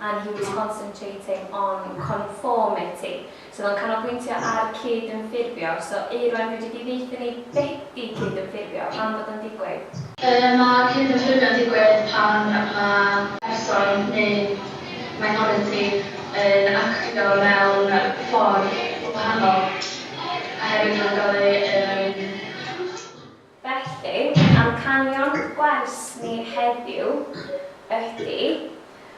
and he was concentrating on conformity, so oedd o'n canolbwyntio ar cyd-ymffurfio, so Euron fedri di ddeutha ni be di cyd-ymffurfio, pam fod o'n digwydd? Yy mae cyd-ymffurfio'n digwydd pan mae person neu minoriti yn actio mewn ffordd wahanol oherwydd rhagor o yym Felly, amcanion gwers ni heddiw ydy,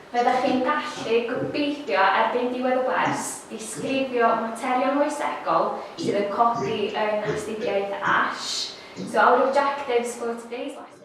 fyddech chi'n gallu, gobeithio, erbyn diwedd y wers, disgrifio y materion moesegol sydd yn codi yn astudiaeth Ash, so our objectives for today's lesson.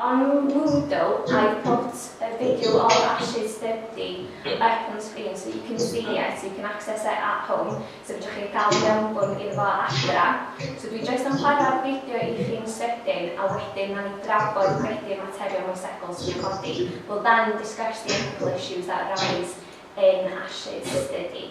Yn Moodle, I put a video of Ash's study up on screen so you can see it, you can access it at home, so fedrwch chi gael mewnbwn iddo fo adra. So dwi jyst am chwarae'r fideo i chi'n sydyn a wedyn wnawn ni drafod be di'r materion moesegol sydd i'w codi. We'll then discuss the ethical issues that arise in Ash's study.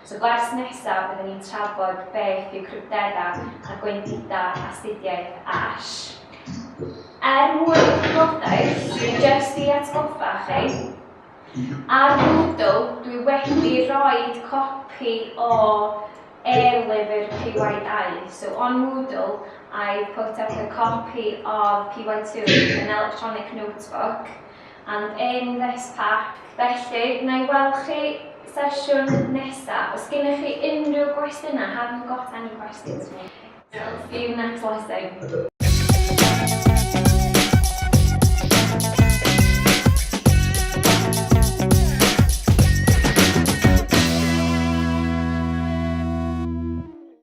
So gwers nesa bydden ni'n trafod beth yw cryfderau a gwendidau astudiaeth Ash. Er mwyn eich gwybodaeth, dwi jyst i atgoffa chi, ar Moodle dwi wedi rhoi copi o e-lyfr PYI, so on Moodle I put up a copy of PY2, an electronic notebook, and in this pack. Felly, na i weld chi sesiwn nesa. Os gennych chi unrhyw gwestiynau, have you got any questions for me? Diolch. See you next lesson.